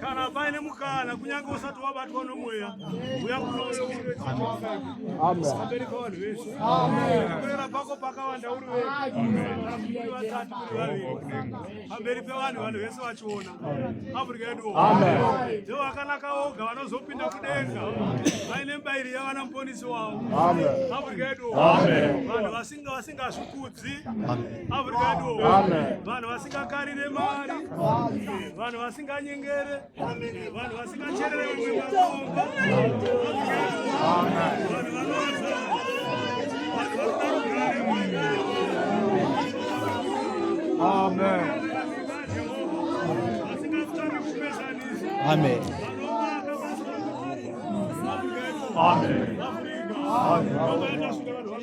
kana paine mukana kunyange usati wabatwa nomweya uya kunoaamberi kavanhu vese kurera pako pakawanda uri vekuri vatatu kuri vaviri pamberi pevanhu vanhu vese vachiona afrika yedu ndio vakanaka oga vanozopinda kudenga vaine mbairi yavana muponisi wavo afrika yedu vanhu Inga vasingazvikudzi avurikadiwo vanhu vasingakarire mari vanhu vasinganyengere vanhu vasingacherere vamwe makomba vanhu vanoza Amen. Amen. Amen. Amen. Amen.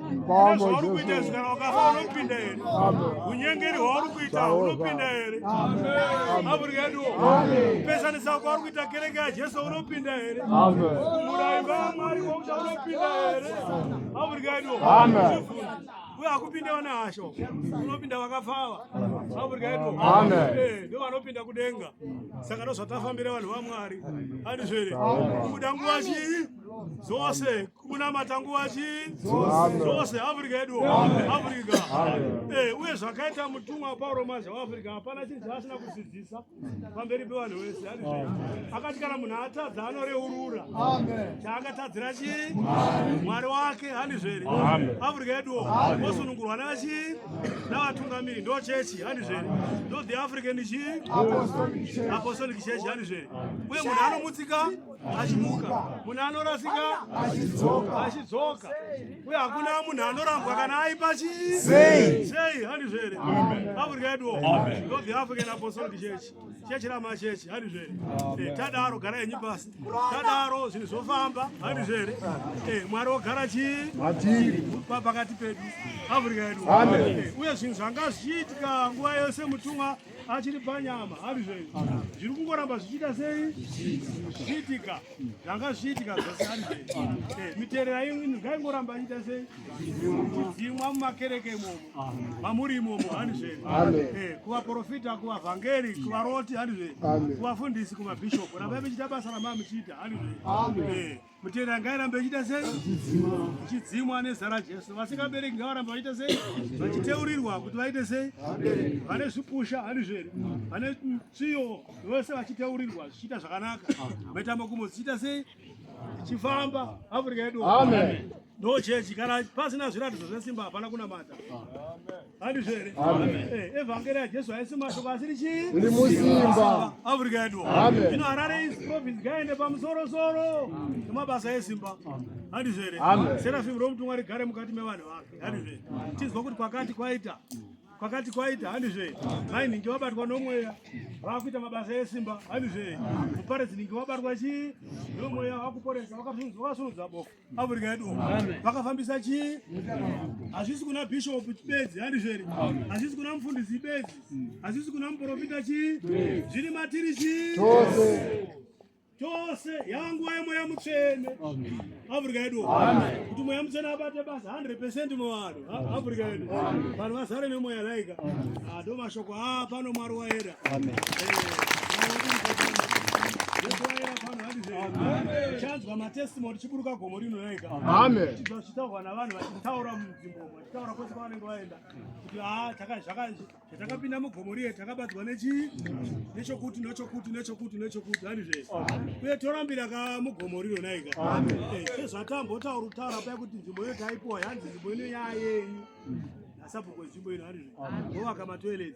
nezvauri kuita izvi kana ukafa unopinda here unyengeri hwauri kuita unopinda here mavhuri yeduwo kupesanisa kwauri kuita kereke yajesu unopinda here murayi vamwari wauta unopinda here mavhuri yeduwo uye akupinda vane hasho unopinda vakafava mavhuri yeduwo eh, ndo vanopinda kudenga saka ndozvatafambira vanhu vamwari andizvere kuda nguva chii dzose kunamata nguva chii dzose africa yedu africa eh, uye zvakaita mutumwa pauro mazha waafrica hapana chinhu chaasina kusidzisa pamberi pevanhu vese akati kana munhu atadza anoreurura chaakatadzira chii mwari wake handizveri africa yedu osunungurwa navachii navatungamiri ndo chechi handizveri ndo the african chii apostolic chechi handizveri uye munhu anomutsika achimuka munhu anorasika achidzoka achidzoka uye hakuna munhu anorambwa kana aipa chii sei sei handizvo here africa yeduwo ndo the african apostolic church chechi ramachechi handizvo here eh, tadaro gara yenyu pasi tadaro zvinhu zvofamba handizvo here eh, mwari wogara chii pakati pedu africa yedu eh, uye zvinhu zvanga zvichiitika nguva yose mutumwa achiri panyama ari zvenyu zviri kungoramba zvichiita sei zvichiitika zvanga zvichiitika zvose ari zvenyu eh, miterera imwini ngaingoramba ichiita sei ichidzimwa mumakereke imomo mamuri imomo ari zvenyu eh, kuvaprofita kuvavhangeri kuvaroti ari zvenyu kuvafundisi kumabhishopu rambai michiita basa ramamuchiita ari zvenyu Mutera ngairambe ichiita sei? Ichidzimwa nezita raJesu. Vasingabereki ngavaramba vachiita sei? Vachiteurirwa kuti vaite sei? Vane zvipusha handizvo here? Vane tsviyo vose vachiteurirwa zvichiita zvakanaka. Mitambo kumwe zvichiita sei? Ichifamba Afrika yedu. Amen. No church kana pasina zviratidzo zvesimba hapana kunamata. Amen. handizvo here eh, evhangeri yajesu haisi mashoko asiri chii iri musimba afrika yedu ino harare is province gaende pamusorosoro nemabasa esimba handizvo here serafim romutumwa rigare mukati mevanhu vake handizvo here tinzwa kuti kwakati kwaita pakati kwaita handizve mai ningi wabatwa nomweya vakuita mabasa esimba handizve muparedzi ningi wabatwa chii nomweya wakuporesa wakasunudza bofu Africa yedu vakafambisa chii? Hazvisi kuna bishop bedzi, handizveri? Hazvisi kuna mufundisi bedzi, hazvisi kuna muprofita chii? Zviri matiri chii? chose yangu waye mweya mutsvene Africa yedu kuti mweya mutsvene abate basa 100 muvanhu Africa yedu vanhu vazare nemweya laika ah, ndo mashoko a ah, pano mwari waera eh, chanzwa matestimony chiburuka gomo rino laika chitaurwa navanhu vachitaura munzvimbo vachitaura kwese kwavanenge vaenda kuti ah, Zvatakapinda mugomo riye takabatwa nechii? Nechokuti nechokuti nechokuti nechokuti hani zvese. Uye torambira ka mugomo rino naika. Eh, Sezvatambotaura kutaura paya kuti nzvimbo iyo taipiwa yanzi nzvimbo ino yayeyu. Nasabhuku nzvimbo ino hani zvese. Wovaka matoilet.